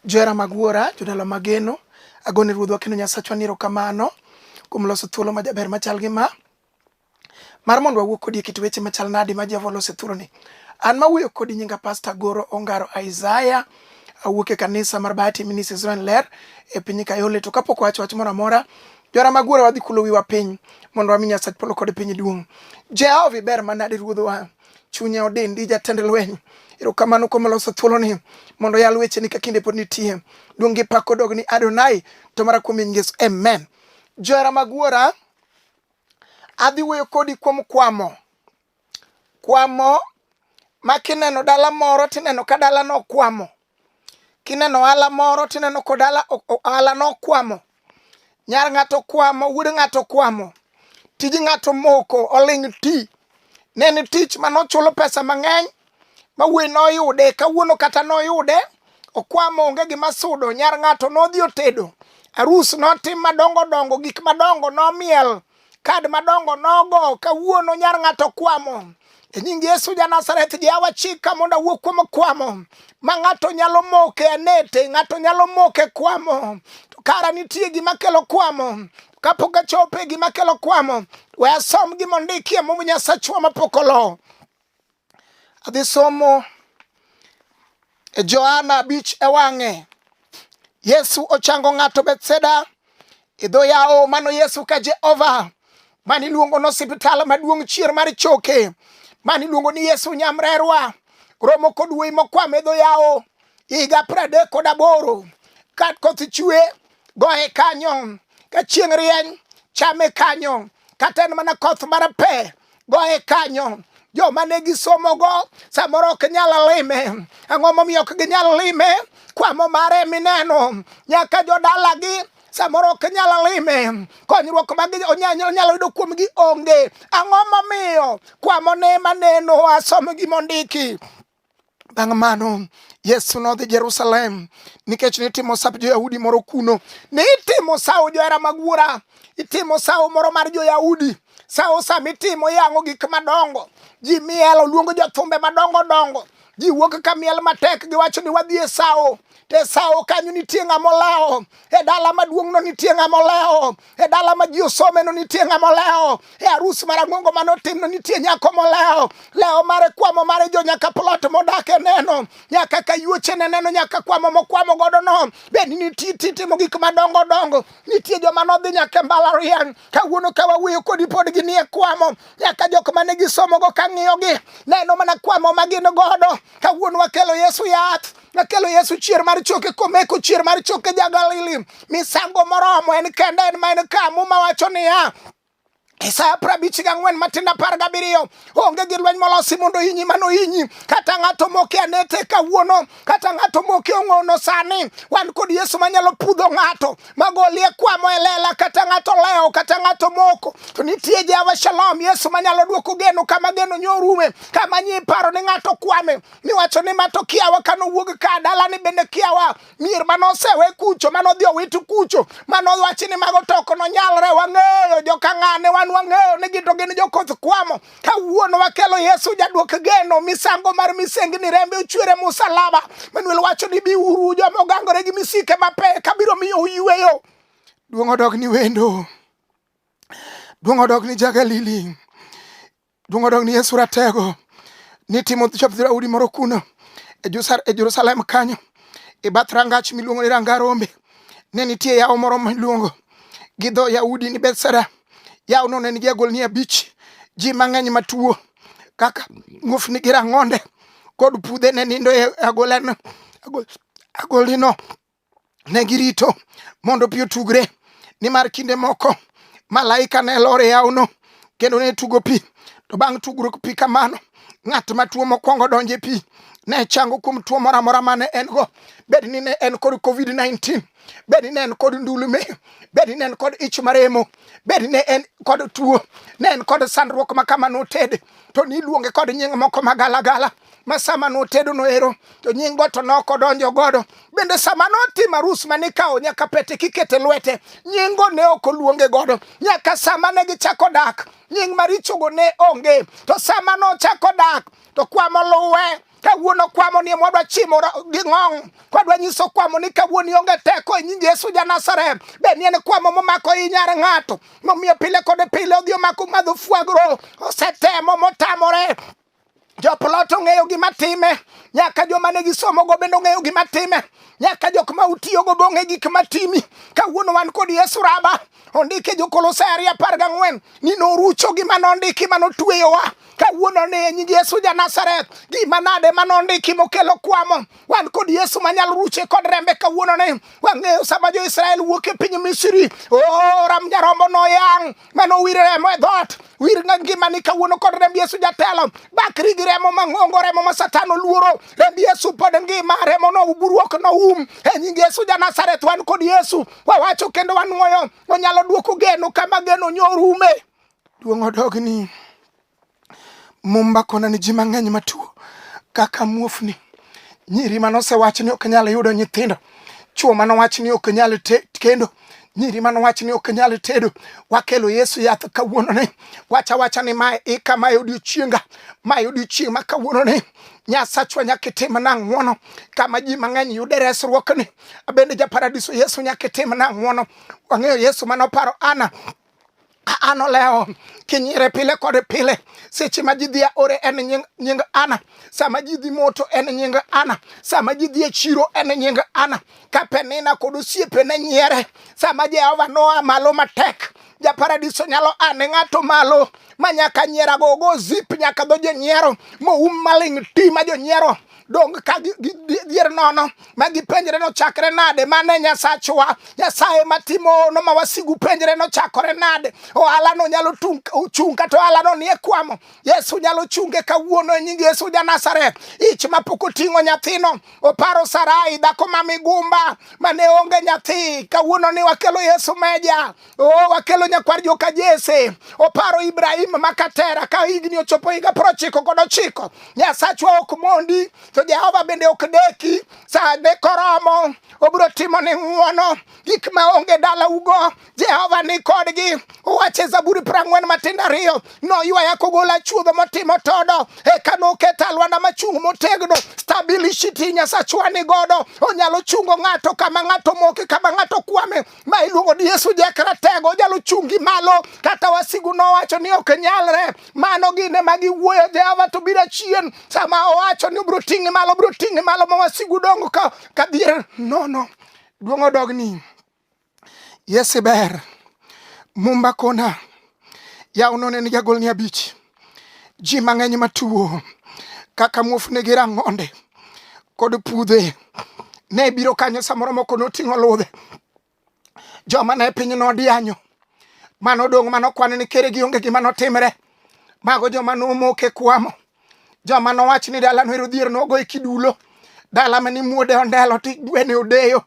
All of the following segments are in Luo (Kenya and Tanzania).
Johera mag Wuora, jodala mageno, agone Ruodhwa kendo Nyasachwa ni erokamano kuom loso thuolo majaber machal gi ma mar mondo wawuo kodi e kit weche machal nadi ma Jehova olose thuroni. An ma wuoyo kodi nyinga Pasta Goro Ongaro Isaiah awuok e kanisa mar Bahati Ministry Israel Ler e piny Kayole to kapok wacho wach moro amora jora mag wuora wadhi kulo wiwa piny mondo wami Nyasach polo kod piny duong'. Jehova iber manade ruodhwa. Chunya odendi jatend lweny. Erokamano kuom loso thuoloni mondo yal weche ni ka kinde pod nitie. Duong' gi pak odog ni Adonai to mara kuom nying Yesu. Amen. Johera mag wuora, adhi wuoyo kodi kuom kwamo. Kwamo ma kineno dala moro tineno ka dalano okwamo. Kineno ohala moro tineno kod ohala ohala nokwamo. Nyar ng'ato okwamo, wuod ng'ato okwamo. Tij ng'ato omoko, oling' ti. Ne en tich ma nochulo pesa mang'eny ma wuoyi noyude, kawuono kata noyude, okwamo onge gima sudo. Nyar ng'ato nodhi otedo, arus notim madongo dongo, gik madongo nomiel. kad madongo nogo kawuono nyar ng'ato kwamo e nying yesu ja nazareth jawa chika mondo awuo kuom kwamo ma ng'ato nyalo moke anete ng'ato nyalo moke kwamo to kara nitie gima kelo kwamo kapok achope gima kelo kwamo we asom gima ondikie mum nyasachwa mapok olo Adhi somo e Johana abich e wang'e. Yesu ochango ng'ato Bethseda e dho yawo mano Yesu ka Jehova mani luongo no osiptal maduong' chier mar choke mani luongo ni Yesu Nyamrerwa romo kod wuoyi mokwame dho yawo higa pradek kod aboro ka koth chwe goye kanyo ka chieng' rieny chame kanyo kata en mana koth mar pe goye kanyo joma ne gisomogo samoro ok nyal lime ang'o momiyo ok ginyal lime kwamo mare mineno nyaka jodalagi samoro ok nyal lime konyruok mag onyalo yudo kuomgi onge ang'o momiyo kwamo ne maneno asom gimondiki Bang' mano Yesu nodhi Jerusalem nikech nitimo sap jo-Yahudi moro kuno. Nitimo sawo johera mag wuora, itimo sawo moro mar jo-Yahudi. Sawo sama itimo iyang'o gik madongo, ji miel oluongo jothumbe madongo dongo, ji wuok ka miel matek giwacho ni wadhi e sawo. e sawo kanyo nitie ng'ama olewo e dala maduong'no nitie ng'ama olewo e dala ma ji osomeno nitie ng'ama olewo e arus marang'ongo mane otimno nitie nyako molewo lewo mare kwamo mare jo nyaka plot modak e neno nyaka kayuochene neno nyaka kwamo mokwamo godo no bende nitie timo gik madongo dongo nitie joma nodhi nyaka e mbalariany kawuono ka wawuoyo kodi pod ginie kwamo nyaka jok mane gisomogo kang'iyogi neno mana kwamo ma gin godo kawuono wakelo yesu yath Nakelo Yesu chier mar choke komeko chier mar choke ja Galili. Misango moromo en kende en ma en ka muma wacho niya Isaya prabich ga ng'wen matin apar gabiriyo onge gi lweny molosi mondo inyi mano inyi kata ng'ato moke anete kawuono kata ng'ato moke ong'ono sani wan kod yesu manyalo pudho ng'ato magolie kwamo e lela kata ng'ato lewo kata ng'ato moko to nitie jehova shalom yesu manyalo dwoko geno kama geno nyorume kama nyi paro ni ng'ato kwame miwacho ni ma to kiawa ka nowuog ka dalani bende kiawa mier ma nosewe kucho ma nodhi owiti kucho ma nowachi ni mago to ok nonyalre wang'eyo jokang'ane wan wang'eyo ni gito gin jokoth kwamo kawuono wakelo yesu jaduok geno misango mar misengni rembe ochwere musalaba manuel wacho ni biuru joma ogangore gi misike mapek kabiro miyo uyweyo duong' odog ni wendo duong' odog ni jagalili Donge odok ni Yesu ratego ni timo chop dhoudi moro kuno e, e Jerusalem kanyo e bath rangach miluongo ni Ranga Rombe ne nitie yawo moro miluongo gi dho Yahudi ni Bethsaida. Yawono ne nigi agolni abich, ji mang'eny matuo kaka muofni gi rang'onde kod pudhe ne nindo e agolano agolino ne girito mondo pi otugre nimar kinde moko malaika ne lor e yawno kendo ne tugo pi to bang' tugruok pi kamano ng'at ma tuo mokwongo donjo e pi ne chango kuom tuo moro amora ma ne en go bed ni ne en kod covid-19 bed ni ne en kod ndulume bed ni ne en kod ich maremo bed ni ne en kod tuo ne en kod sandruok ma kama noted to niluonge kod nying moko magalagala ma sama notedo noero to nying go to noko donjo godo bende sama notimo arus ma nikawo nyaka pete kikete lwete nying go ne ok oluonge godo nyaka sama ne gichako dak nying marichogo ne onge to sama nochako dak to kwamo luwe kawuono kwamo ni mwadwa chimo gi ng'ong' kwadwa nyiso kwamo ni kawuono ionge teko e nying yesu ja nazareth be ni en kwamo momako i nyar ng'ato momiyo pile kod pile odhi omako madho fwagro osetemo motamore Joplot ong'eyo gima time, nyaka joma ne gisomogo bende ong'eyo gima time, nyaka jok ma utiyogo be ong'e gik ma timi. Kawuono wan kod Yesu Raba, ondike Jokolosai ariyo apar gang'wen ni norucho gima nondiki ma notueyowa kawuono ni e nying Yesu ja Nazareth gima nade ma nondiki mokelo kwamo wan kod Yesu manyalo ruche kod rembe kawuono ni wang'eyo sama jo Israel wuok e piny Misri o oh, ram jarombo noyang' mano wir remo e dhoot wir nga ngimani kawuono kod remb yesu jatelo bakri gi remo mang'ongo remo ma satan oluoro remb yesu pod ngima remo no buruok no um e nying yesu ja nazareth wan kod yesu wawacho kendo wanwoyo onyalo duoko geno kama geno nyorume duong' odogni Mumba kona ni ji mang'eny matuo kaka muofni, nyiri mane osewach ni ok nyal yudo nyithindo, chwo mane owach ni ok nyal kendo nyiri mane owach ni ok nyal tedo. Wakelo Yesu yath kawuononi, wacha wacha ni mae ika, mae odiochienga, mae odiochieng' ma kawuononi Nyasachwa nyaka itimna ng'wono kama ji mang'eny yude resruokni. Abende ja paradiso Yesu nyaka itimna ng'wono. Wang'eyo Yesu mane oparo Ana an olewo kinyire pile kod pile seche ma ji dhi aore en nying, nying ana sama ji dhi moto en nying ana sama ji dhi e chiro en nying ana ka penina kod osiepene nyiere sama jehova noa malo matek japaradiso nyalo ane ng'ato malo ma nyaka nyierago ogo zip nyaka dho jonyiero moum maling' ti ma jonyiero dong ka gidier nono ma gipenjre nochakre nade mane nyasachwa nyasaye matimono ma wasigu penjre nochakore nade ohalano nyalo chung' kata ohalano nie kwamo yesu nyalo chunge kawuono e nying yesu ja nazareth ich mapok oting'o nyathino oparo sarai dhako ma migumba mane onge nyathi kawuono ni wakelo yesu meja Oh, wakelo nyakwar joka Jese oparo Ibrahim makatera ka higni ochopo higa prochiko kod ochiko. Nyasachwa ok mondi to Jehova bende ok deki sa ne koromo obiro timo ni ng'uono gik ma onge dala ugo Jehova ni kodgi uwache Zaburi prang'wen matindo ariyo noywaya kogola chuodho motimo todo eka noketa lwanda machung' motegno stabilishiti Nyasachwa ni godo onyalo chungo ng'ato kama ng'ato moke kama ng'ato kwame ma iluongo ni Yesu Jakratego onyalo chungi malo kata wasigu nowacho ni ok nyalre mano gine ma giwuoyo Jehova to biro chien sama owacho ni obiro ting'i malo obiro ting'i malo ma wasigu dongo ka kadhier nono duong' odogni Yesu ber mumba kona yaw none ni jagol ni abich ji mang'eny matuwo kaka muofni gi rang'onde kod pudhe ne biro kanyo samoro moko noting'o ludhe joma ne piny nodianyo mano dong' mano kwan ni kere gi onge gima notimre mago joma nomoke kwamo joma nowach ni dala no ero dhier nogo e kidulo dala mani muode ondelo ti gwene odeyo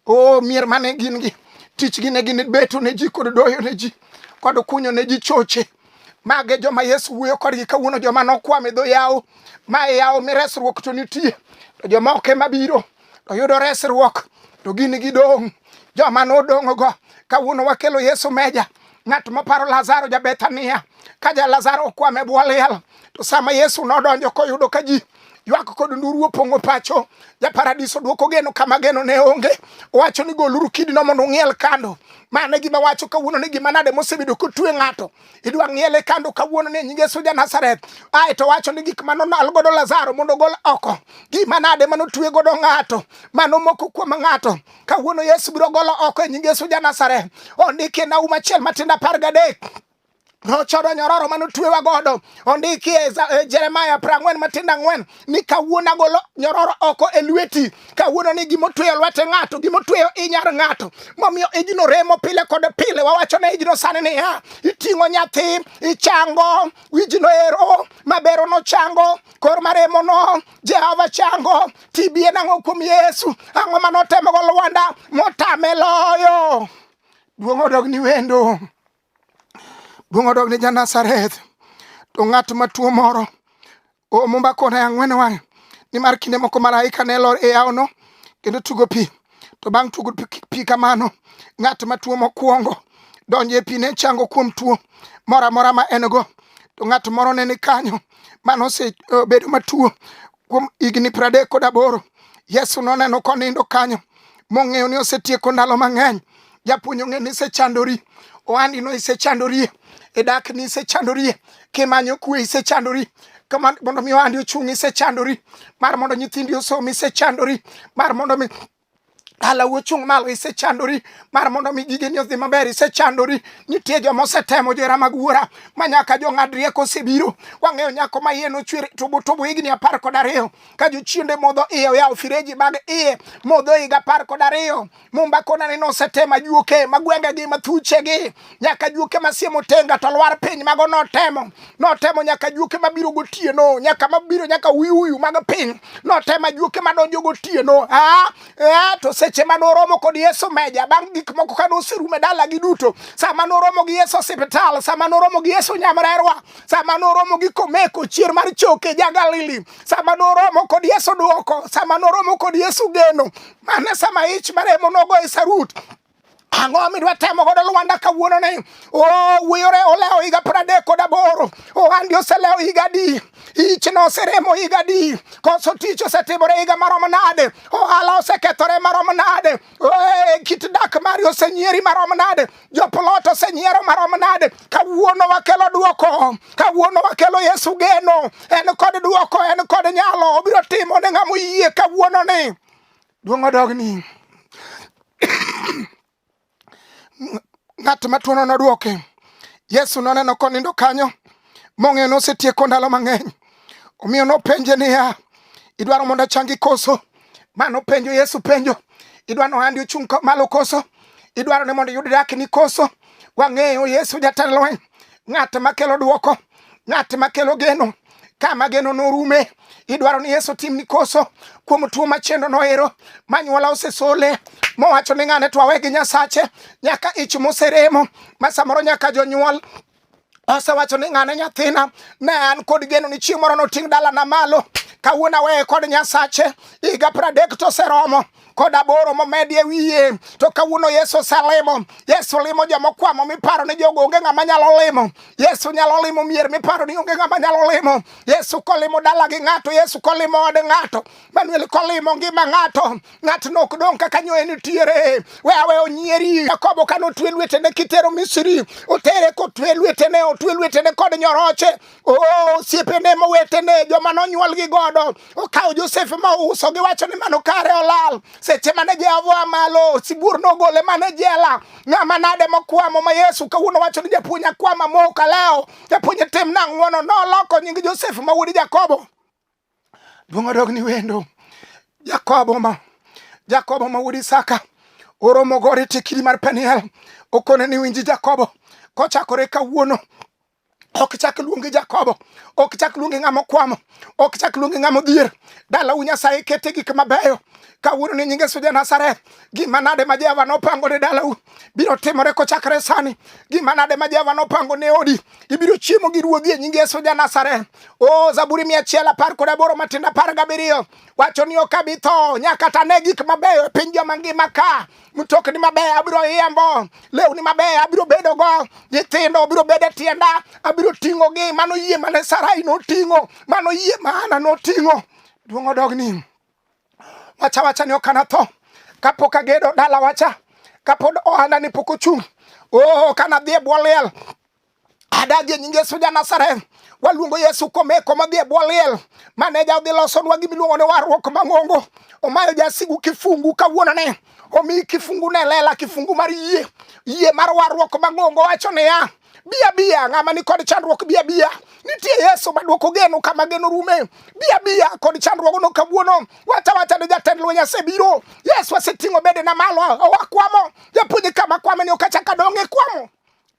o mier mane gin gi tichgi ne gin beto ne ji kod doyo ne ji kod kunyo ne ji choche mage joma yesu wuoyo kodgi kawuono joma nokwam e dho yawo ma e yawo mi resruok to nitie to joma ok ema biro to yudo resruok to gin gidong' joma nodong'go kawuono wakelo yesu meja ng'at moparo lazaro ja bethania ka ja lazaro okwam e bwo liel to sama yesu nodonjo koyudo ka ji ywak kod nduru opong'o pacho ja paradiso dwoko geno kama geno ne onge owacho ni goluru kidino mondo ung'iel kando mane gima wacho kawuono ni gima nade mosebedo kotue ng'ato idwa ng'iele kando kawuono ni nyinge suja Nazareth ae to wacho ni gik mano nal godo Lazaro mondo gol oko gima nade mano tue godo ng'ato mano moko kuom ng'ato kawuono Yesu biro golo oko e nyinge suja Nazareth ondike na uma chiel matinda par gadek Ochodo nyororo mane otwewa godo ondiki e, e Jeremaya prang'wen matindo ang'wen ni kawuono agolo nyororo oko e lweti. Kawuono ni gima otweyo lwete ng'ato, gima otweyo inyar ng'ato. Momiyo ijno remo pile kod pile. Wawacho ne ijno sani niya, iting'o nyathi, ichango, wijno ero, mabero no chango, kor maremo no, Jehova chango, TB en ang'o kuom Yesu? Ang'o mane otemo go Lwanda motame loyo? Duong' odog ni wendo. Duong' odog ni Janazareth. To ng'at matuo moro omumba kona ang'wen wang'e nimar kinde moko malaika ne lor e yawono kendo tugo pi to bang' tugo pi kamano ng'at matuo mokwongo donjo e pi ne chango kuom tuo moro amora ma en go to ng'at moro ne ni kanyo mano osebedo eh, matuo Kuom higni pradek kod aboro, Yesu noneno konindo kanyo, mong'eyo ni osetieko ndalo mang'eny. Japuonj ong'e ni isechandori, ohandi no isechandorie, e dak ni isechandorie, kimanyo kwe isechandori, kama mondo mi ohandi ochung' isechandori, mar mondo nyithindi osom isechandori, mar mondo mi Dala wuchung' malo isechandori mar mondo mi gigeni odhi maber isechandori nitie joma osetemo johera mag wuora ma nyaka jong'ad rieko osebiro wang'eyo nyako ma iye nochwer tubu tubu higni apar kod ariyo ka jochiende modho iye oyawo fireji mag iye modho higa apar kod ariyo mumba konani nosetema juoke ma gwengegi ma thuchegi nyaka juoke masie motenga to lwar piny mago notemo notemo nyaka juoke mabiro gotieno nyaka mabiro nyaka uyuyu mag piny notemo juoke madonjo gotieno ah, eh, to seche ma noromo kod yesu meja bang' gik moko ka noserume dalagi duto sama noromo gi yesu osiptal sama noromo gi yesu nyamrerwa sama noromo gi komeko chier mar choke ja galili sama noromo kod yesu dwoko sama noromo kod yesu geno mane sama ich maremo nogo e sarut Ang'o midwa temo godo Lwanda kawuono ni? Oh, wiyore olewo higa pradek kod aboro. Ohandi oselewo higa adi? Ichno oseremo higa adi? Koso tich osetimore higa marom nade? Ohala osekethore marom nade? Eh, kit dak mari osenyieri marom nade? Joplot osenyiero marom nade? Kawuono wakelo duoko. Kawuono wakelo Yesu geno. En kod duoko, en kod nyalo. Obiro timo ne ng'ama oyie kawuono ni. Duong' odogni. Ng'at matuono nodwoke. Yesu noneno konindo kanyo mong'eyo nosetieko ndalo mang'eny. Omiyo nopenje niya, idwaro mondo achangi koso? Ma nopenjo Yesu penjo, idwaro ni ohandi ochung' malo koso? Idwaro ni mondo iyud dakni koso? Wang'eyo Yesu jatend lweny. ng'at makelo dwoko, ng'at makelo geno kama geno norume idwaro ni yesu tim ni koso kuom tuo machendo noero manyuola osesole mowacho ni ng'ane twawe gi nyasache nyaka ich moseremo ma samoro nyaka jonyuol osewacho ni ng'ane nyathina ne an kod geno ni chieng' moro noting' dalana malo kawuono aweye kod nyasache higa pradek to oseromo kod aboro momedi e wiye to kawuono yesu oselimo yesu limo jomokwamo miparo ni jogo onge ng'ama nyalo limo yesu nyalo limo mier miparo ni onge ng'ama nyalo limo yesu kolimo dala gi ng'ato yesu kolimo od ng'ato manuel kolimo ngima ng'ato ng'atno ok dong' kaka nyoye nitiere we awe onyieri jakobo kane otwe lwetene kitero misri otere kotwe lwetene otwe lwetene kod nyoroche Oh, siepene mowetene joma nonyuol gi godo okawo Josef ma ouso giwacho ni mano kare olal seche mane Jehova malo sibuor nogole mane jela ng'ama nade mokwamo ma Yesu kawuono wacho ni japuonj akwama moka leo japuonj tim nang'wono noloko nying Josef ma wuod Jakobo Duong' odog ni wendo. Jakobo ma Jakobo ma wuod Isaka oromo gore tekiri mar Peniel okone ni winji Jakobo kochakore kawuono ok chak luongi Jakobo, ok chak luongi ng'ama okwamo, ok chak luongi ng'ama odhier. Dalau Nyasaye kete gik mabeyo kawuono ni nyinge suja Nazareth. Gima nade ma Jehova nopango ne dalau biro timore kochakre sani? Gima nade ma Jehova nopango ne odi ibiro chiemo gi ruodhi e nying Yesu ja Nazareth. O Zaburi mia achiel apar kod aboro matindo apar gabiriyo wacho ni ok abi tho nyaka ta ne gik mabeyo e piny joma ngima ka mtokni mabeyo abiro yembo lewni mabeyo abiro bedo go nyithindo abiro bedo e tienda abiro ting'o gi mano yie mane Sarai noting'o mano yie ma Hana noting'o duong' odogni wacha wacha ni ok anatho kapok agedo dala wacha kapod ohanda ni pok ochung' oh, kanadhi e bwo liel adagi e nying Yesu ja Nazareth waluongo Yesu komeko madhi e bwo liel maneja odhi losonwa gimiluongo ni warruok mang'ongo omayo jasigu kifungu kawuonone omi kifungu ne lela kifungu mar yie yie mar warruok mang'ongo wacho niya Bia bia, ng'ama ni kod chandruok bia bia. Nitie Yesu maduoko geno kama geno rume. Bia bia kod chandruok no kawuono. Wacha wacha ni jatend lweny asebiro. Yesu aseting'o bede na malo owa kwamo. Japuonj kama kwame ni okachaka donge kwamo.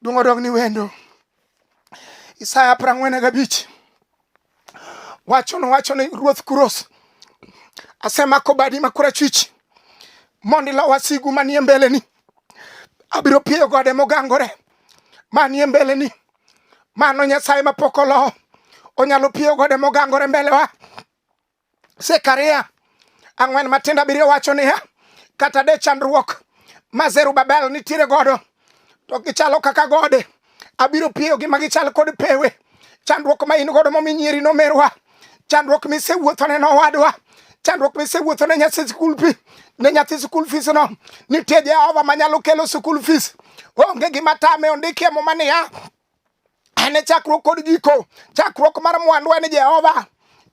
Dungo dog ni wendo. Isaya prang'wen gabich. wacho nowacho ni ruoth Kuros, asemako badi ma korachwich mondo ilo wasigu manie mbeleni. Abiro pieyo gode mogangore manie mbeleni. Mano Nyasaye mapok olo onyalo pieyo gode mogangore mbelewa. Zekaria ang'wen matindo abiriyo wacho niya, kata de chandruok ma Zerubabel nitiere godo to gichalo kaka gode, abiro piyogi ma gichal kod pewe. Chandruok ma in godo momi nyieri nomerwa, chandruok misewuothone nowadwa, chandruok misewuothone nyathi skul fi ne nyathi skul fees no, nitie Jehova manyalo kelo skul fees. Onge gima tame, ondiki e muma niya en e chakruok kod giko chakruok mar mwandu en jehova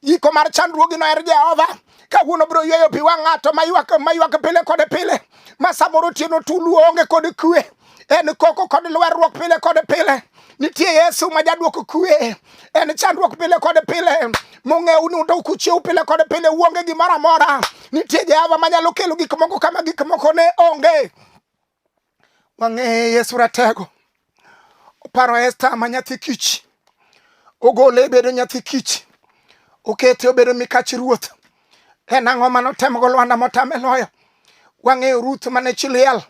giko mar chandruogino en jehova kawuono biro yweyo pi wang' ng'ato maywak pile kod pile ma samoro otieno tulu onge kod kwe en koko kod lwerruok pile kod pile nitie yesu ma jadwoko kwe en chandruok pile kod pile mong'ewu ni undo kuchiew pile kod pile uonge gimoro amora nitie jehova manyalo kelo gik moko kama gik moko ne onge wang'eye Yesu Ratego oparo Esta ma nyathi kich ogole e bedo nyathi kich okete obedo mikach ruoth en ang'o mane otemogo Lwanda motame loyo wang'eyo Ruth mane chi liel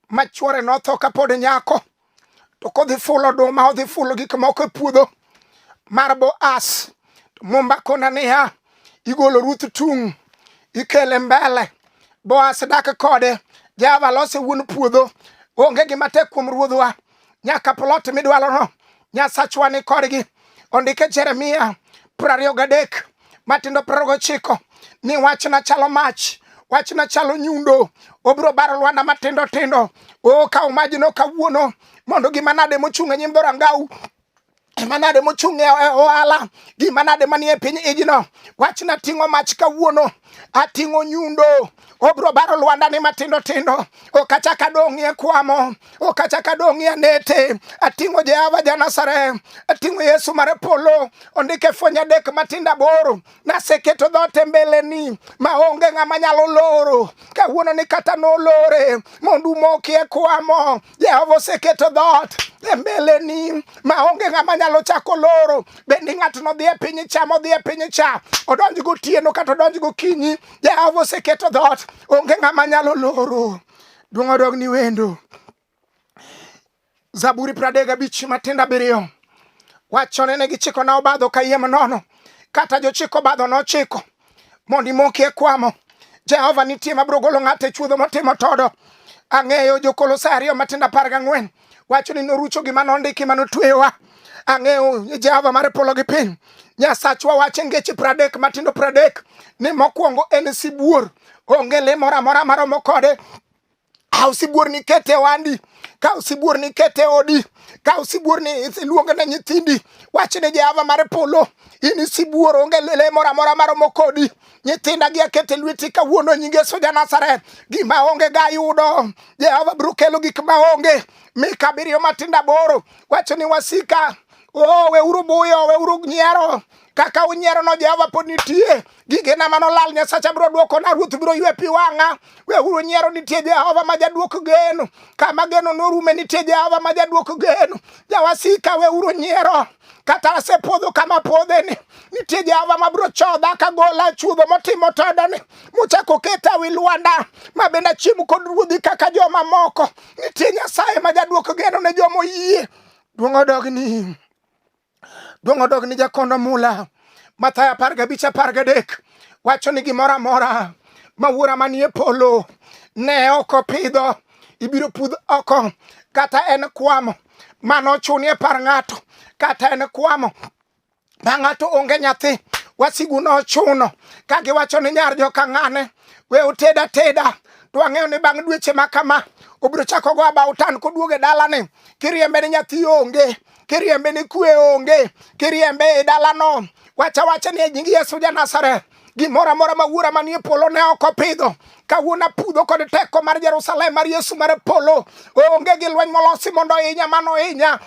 ma chwore notho kapod nyako to kodhi fulo oduma odhi fulo gik moko e puodho mar Boaz mumba kona niya igolo Ruth tung' ikele mbele Boaz dak kode Java lose wuon puodho onge gima tek kuom ruodhwa nyaka plot midwalono nyasachwa ni kodgi ondike Jeremia prariyo gadek matindo piero gochiko ni wachna chalo mach wachna chalo nyundo obiro baro lwanda matindo tindo o kaw majno kawuono mondo gima nade mochung' e nyim dhorangau gima nade mochung' e, e ohala gima nade manie piny ijno wachna ting'o mach kawuono ating'o nyundo obro baro lwandani matindo tindo okachaka dong'ie kwamo okachaka dong'ie nete ating'o jehova janasare ating'o yesu mare polo ondike fwenye adek matindo aboro naseketo dhote mbeleni maonge ng'ama nyalo loro kawuono ni kata nolore mondo umokie kwamo Jehova oseketo dhoot e mbeleni maonge ng'ama nyalo chako loro. Bende ng'atno dhi e piny cha modhi e piny cha, odonj gotieno kata odonj gokinyi, Jehova oseketo dhoot, onge ng'ama nyalo loro. Duong' odog ni wendo. Zaburi pradek gabich matindo abiriyo wachone ne gichikona obadho kayiem nono, kata jochiko obadho nochiko mondo imoki e kwamo jehova nitie mabiro golo ng'ato e chuodho motimo todo ang'eyo jokolosai ariyo matindo apar gang'wen wacho ni norucho gima nondiki ma notweyowa ang'eyo jehova mar polo gi piny nyasachwa wacho ngeche pradek matindo pradek ni mokwongo en sibuor onge le moro amora maromo kode Kaw sibuor ni ket e wandi, kaw sibuor ni ket e odi, kaw sibuor ni iluonge ne nyithindi. Wach ne Jehova mar polo, in sibuor onge le moro amora maromo kodi. Nyithinda gi aket e lweti kawuono e nyinge soja Nazareth. Gima onge ga yudo, Jehova biro kelo gik ma onge. Mika abiriyo matindo aboro wacho ni wasika, oh, weuru buyo, weuru nyiero kaka unyierono Jehova pod nitie. gigena mano lal nyasacha biro dwokona ruoth biro ywe pi wang'a weuru nyiero nitie jehova ma jadwok geno kama geno norume nitie jehova ma jadwok geno jawasika weuru nyiero kata asepodho kama podheni nitie jehova ma biro chodha kagola chudho motimo todoni muchako keta wi lwanda ma bende achiem kod ruodhi kaka jomamoko nitie nyasaye ma jadwok geno ne joma oyie duong' odogni Duong' odog ni jakondo mula. Mathayo apar gabich apar gadek wacho ni gimoro amora ma wuora manie polo ne ok opidho ibiro pudh oko kata en kwamo mano ochunie par ng'ato kata en kwamo ma ng'ato onge nyathi wasigu nochuno ka giwacho ni nyar joka ng'ane we oteda teda to ang'eyo ni bang' dweche ma kama obiro chako go abautan koduoge dalani kiriembe ni nyathi onge kiriembe ni kwe onge, kiriembe e dalano, wacha wacha ni e nying Yesu ja Nazareth gimoro amora ma wuora manie polo ne ok opidho kawuono apudho kod teko mar Jerusalem mar Yesu mar polo onge gi lweny molosi mondo ohinya mano ohinya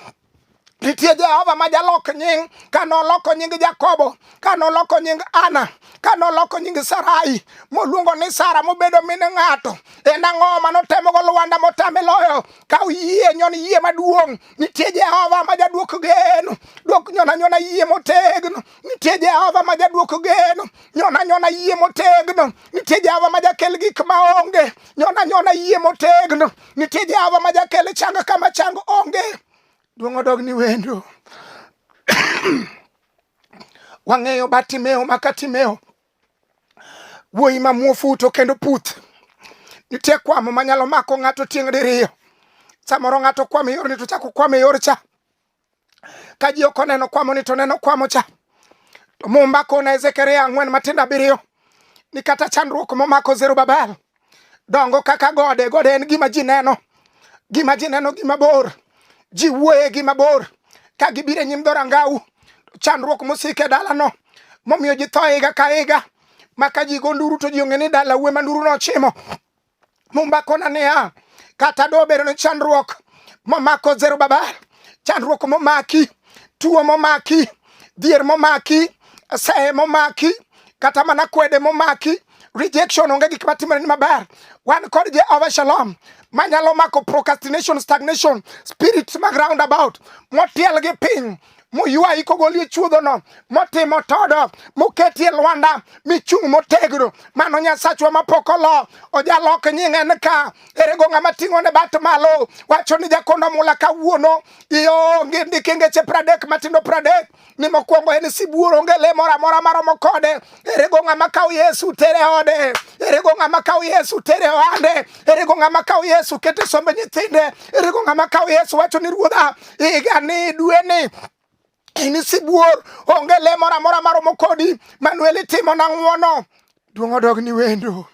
nitie jehova ma jalok nying ka noloko nying jakobo ka noloko nying ana ka noloko nying sarai moluongo ni sara mobedo min ng'ato en ang'o ma notemogo lwanda motame loyo ka oyie nyon yie maduong' Nitie Jehova ma jadwok geno, dwok nyona nyona yie motegno. Nitie Jehova ma jadwok geno, nyona nyona yie motegno. Nitie Jehova ma jakel gik ma onge, nyona nyona yie motegno. Nitie Jehova ma jakel chang kama chang onge. Duong' odog ni wendo. Wang'eyo Bartimeo ma Katimeo Wuoyi ma muofu to kendo puth. Nitie kwamo manyalo mako ng'ato tieng' diriyo. Samoro ng'ato kwamo e yorni to chako kwamo e yor cha. Ka ji ok oneno kwamo ni to neno kwamo cha. To Mumba kona Ezekiel ang'wen matindo abiriyo ni kata chandruok momako Zerubabel dongo kaka gode gode en gima ji neno gima ji neno gima bor ji wuoye gima bor ka gibiro e nyim dhorangau chandruok mosiko e dalano momiyo ji tho higa ka higa maka ji go nduru to ji ong'e ni dala wuwe ma nduru nochimo mumba kona niya kata dobedo ni chandruok momako zero baba chandruok momaki tuo momaki dhier momaki sehe momaki kata mana kwede momaki rejection onge gik matimore ni maber wan kod jehova shalom manyalo mako procrastination stagnation spirits mag roundabout motiel gi piny moywayi kogolie chuodhono motimo todo moketie lwanda michung' motegno mano nyasachwa mapok olo ojalok nying'e ni ka erego ng'ama ting'o ne bat malo wacho ni jakondo mula kawuono ionge ndikingeche pradek matindo pradek ni mokwongo en sibuor onge le moro amora maromo kode erego ng'ama kawo yesu tere ode erego ng'ama kawo yesu tere ohande erego ng'ama kawo yesu kete sombe nyithinde erego ng'ama kawo yesu wacho ni ruodha igani dweni in sibuor onge le moro amora maromo kodi manuel itimo na ng'wono duong' odog ni wendo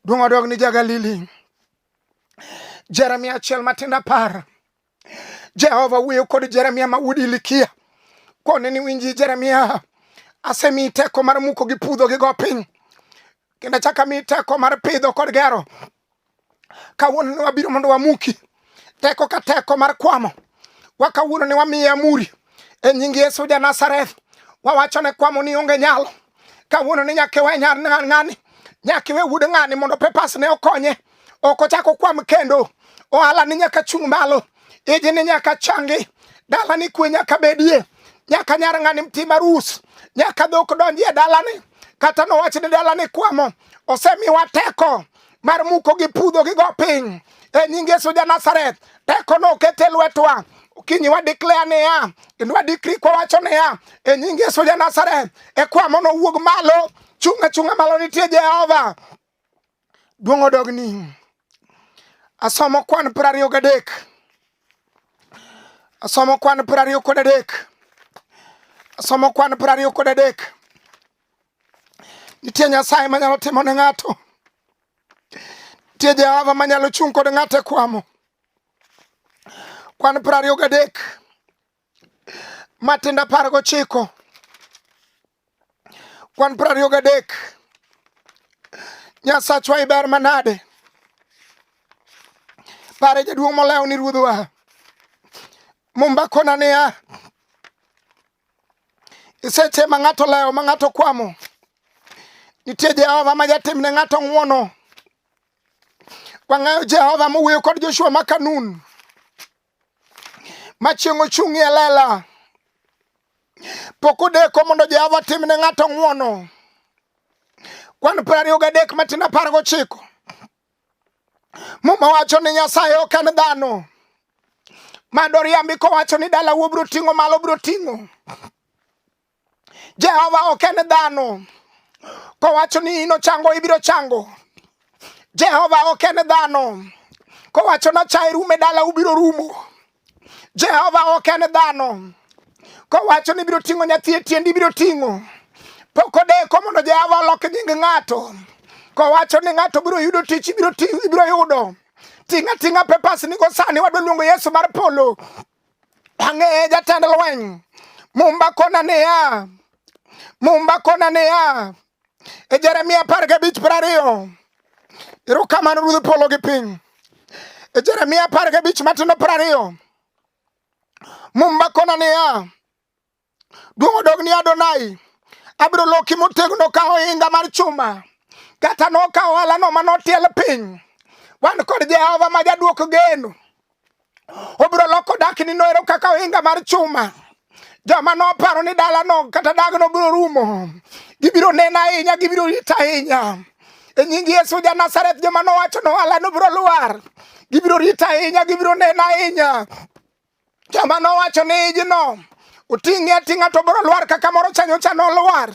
duong' odog ni jagalili jeremia achiel matindo apar Jehova wuoyo kod Jeremia ma wuod Ilikia kone ni winji Jeremia, asemi teko mar muko gi pudho gi go piny kendo achaka mi teko mar pidho kod gero. Kawuono ni wabiro mondo wamuki teko ka teko mar kwamo wa kawuono ni wamiye amuri e nying Yesu ja Nazareth, wawacho ne kwamo ni onge nyalo kawuono ni nyaka iwe nyar ng'ani nyaka iwe wuod ng'ani mondo pepas ne okonye ok ochak okwam kendo ohala ni nyaka chung' malo iji ni nyaka changi dala ni kwe nyaka bedie nyaka nyar ng'ani mti marus nyaka dhok donjie dalani kata nowach ni dalani kwamo osemiwa teko mar muko gi pudho gi go piny e nying Yesu ja Nazareth teko no okete lwetwa kinyi wa declare niya kendo wa decree kwa wacho niya e nying Yesu ja Nazareth e kwa mono wuog malo chunga chunga malo nitie Jehova duong odogni asomo kwan piero ariyo gadek asomo kwan piero ariyo kod adek asomo kwan piero ariyo kod adek Nitie Nyasaye manyalo timo ne ng'ato. Nitie Jehova manyalo chung' kod ng'ato e kwamo. Kwan piero ariyo gadek matindo apar gochiko kwan piero ariyo gadek Nyasachwa iber manade pare jaduong' molewo ni ruodhwa mumba kona niya Iseche ma ng'ato lewo ma ng'ato kwamo, nitie Jehova ma jatim ne ng'ato ng'wono. Wang'eyo Jehova mowuoyo kod Joshua ma Kanun ma chieng' ochung'ie lela. Pok odeko mondo Jehova tim ne ng'ato ng'wono. Kwan piero ariyo gadek matin apar gochiko Muma wacho ni Nyasaye ok en dhano ma doriambi kowacho ni dala wuo biro ting'o malo biro ting'o. Jehova ok en dhano kowacho ni ino chango ibiro chango. Jehova ok en dhano kowacho na chae rume dala ubiro rumo. Jehova ok en dhano kowacho ni ibiro ting'o nyathi e tiendi ibiro ting'o pok odeko mondo Jehova olok nying ng'ato kowacho ni ng'ato biro yudo tich ibiro yudo ting'a ting'a pepas nigo sani wadwa luongo Yesu mar polo ang'eye jatend lweny mumba kona niya mumba kona niya e Jeremia apar gabich piero ariyo erokamano ruodh polo gi piny e Jeremia apar gabich matindo piero ariyo mumba kona niya duong' odog ni Adonai abiro loki motegno ka ohinga mar chuma kata nokawo alano ma notiel piny wan kod Jehova ma jadwoko geno Obiro loko dakni noero kaka ohinga mar chuma. Joma noparo ni dalano kata dagno biro rumo, gibiro nena ahinya, gibiro rita ahinya. E nying Yesu ja Nazareth, joma nowacho ni ohalano biro lwar, gibiro rita ahinya, gibiro nena ahinya. Joma nowacho ni ijno oting'e ating'a to biro lwar kaka moro chanyocha nolwar.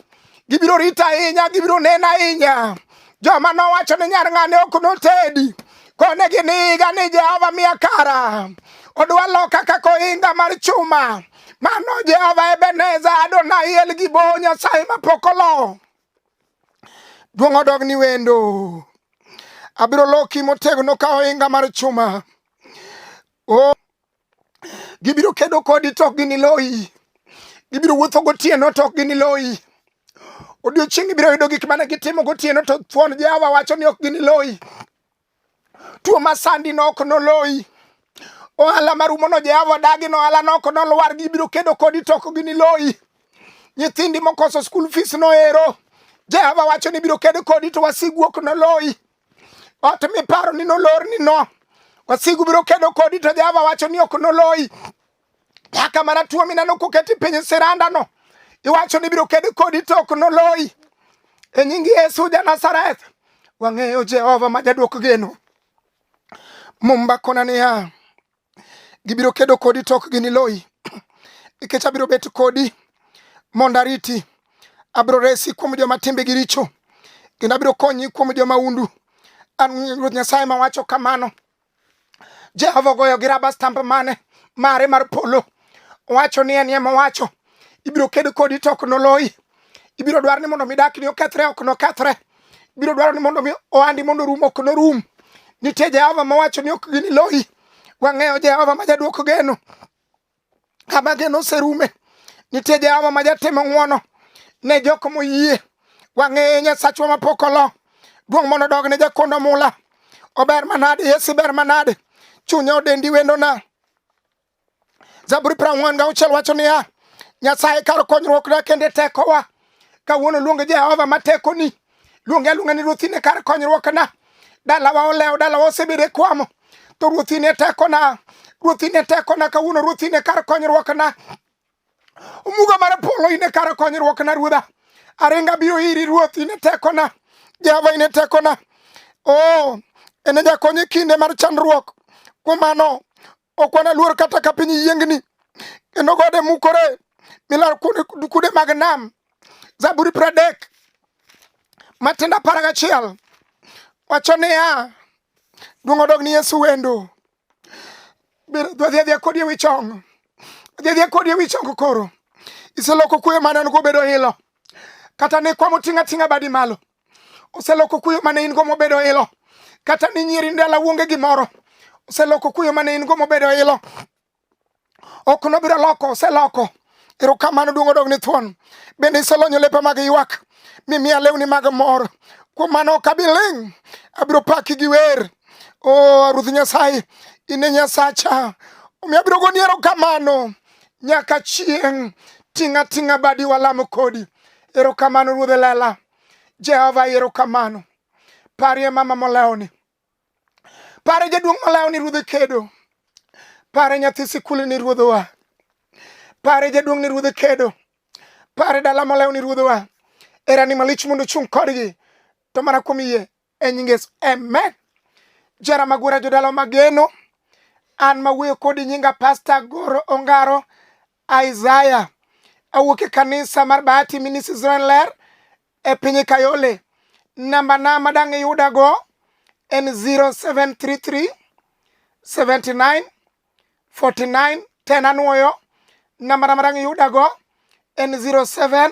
gibiro rito ahinya gibiro neno ahinya joma nowacho ni nyar ng'ane ok notedi kone gin higa ni jehova miya kara odwa loka kaka ohinga mar chuma mano jehova ebeneza adonai el gi bo nyasaye mapok olo duong' odog ni wendo abiro loki motegno ka ohinga mar chuma oh. Gibiro kedo kodi to ok giniloyi. Gibiro wuotho gotieno to ok giniloyi. Odiochieng' ibiro yudo gik mane gitimo gotieno to thuon Jehova wacho ni ok giniloyi. Tuo masandi no ok noloyi. Ohala marumono Jehova dagi no ohala no ok nolwar. Gibiro kedo kodi to ok giniloyi. Nyithindi mokoso skul fees no ero. Jehova wacho ni biro kedo kodi to wasigu ok noloyi. Ot miparo ni nolor ni no. Wasigu biro kedo kodi to Jehova wacho ni ok noloyi. Nyaka mana tuo mineno koketi piny siranda no. Iwacho ni biro kedo kodi to ok noloyi. E nying Yesu ja Nazareth. Wang'eyo Jehova ma jadwok geno. Mumba kona niya. Gibiro kedo kodi to ok giniloyi, nikech abiro bet kodi mondo ariti. Abiro resi kuom joma timbegi richo, kendo abiro konyi kuom joma undu. An Ruoth Nyasaye mawacho kamano. Jehova ogoyo gi raba stamp mane mare mar polo, owacho ni en ema owacho. Ibiro ked kodi to ok noloyi. ibiro dwaro ni mondo mi dakni okethre ok nokethre ibiro dwaro ni mondo mi ohandi mondo rum ok norum nitie jehova mawacho ni ok giniloyi wang'eyo jehova ma jaduoko geno kama geno oserume nitie jehova ma jatimo ng'wono ne jok moyie wang'eye nyasachwa mapok olo duong' mondo dog ne jakondo mula ober manade yesu ber manade chunye odendi wendona Zaburi prang'wen ga uchiel wacho niya, Nyasaye kar konyruokna kende tekowa. Kawuono luonge Jehova ma tekoni, luonge aluonga ni ruothine kar konyruokna. Dalawa olewo, dalawa osebedo e kwamo, to ruothine tekona, ruothine tekona, kawuono ruothine kar konyruokna. Omuga mar polo ine kar konyruokna ruodha. Aringa biro iri ruoth ine tekona. Jehova ine tekona. Oh, ene jakony e kinde mar chandruok. Kuom mano, Ok wanaluor kata ka piny yiengni, kendo gode mukore milar kude mag nam. Zaburi pradek matindo apar gachiel wacho niya, duong' odog ni Yesu wendo. Dwadhi adhiya kodi ewi chong, dhi adhiya kodi ewi chong koro. Iseloko kuyo mane an go bedo ilo, kata ni kwamo ting'a ting'a badi malo. oseloko kuyo mane in go mobedo ilo kata ni nyiri ndala wuonge gimoro oseloko kuyo mane in go mobedo ilo ok nobiro loko oseloko erokamano duong' odog ni thuon bende iselonyo lepa mag ywak mimiya lewni mag mor kuom mano ok abi ling' abiro paki gi wer o oh, ruoth nyasaye in e nyasacha omiyo abiro goni erokamano nyaka chieng' ting'a ting'a badi walamo kodi Erokamano Ruodhe Lela. Jehova erokamano. Parie mama molewni. Pare jaduong' molewni Ruodhe kedo. Pare nyathi sikul ni Ruodhowa. Pare jaduong' ni Ruodhe kedo. Pare dala molewni Ruodhowa. Erani malich mondo chung' kodgi. To mana kuom yie e nying Yesu amen. Jara Magwera jodala mageno an mawuoyo kodi nyinga Pastor Goro Ongaro Isaiah awuok e kanisa mar Bahati Ministries Ler e piny Kayole. Namba na madang' iyudago en 0733 79 49 10 anwoyo. Namba na madang' iyudago en 07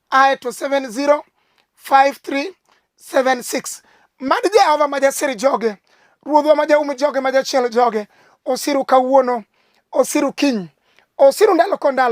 ae to 705376 mad jehova ma jasir joge ruodhwa ma jaum joge ma jachiel joge osiru kawuono osiru kiny osiru ndalo ko ndalo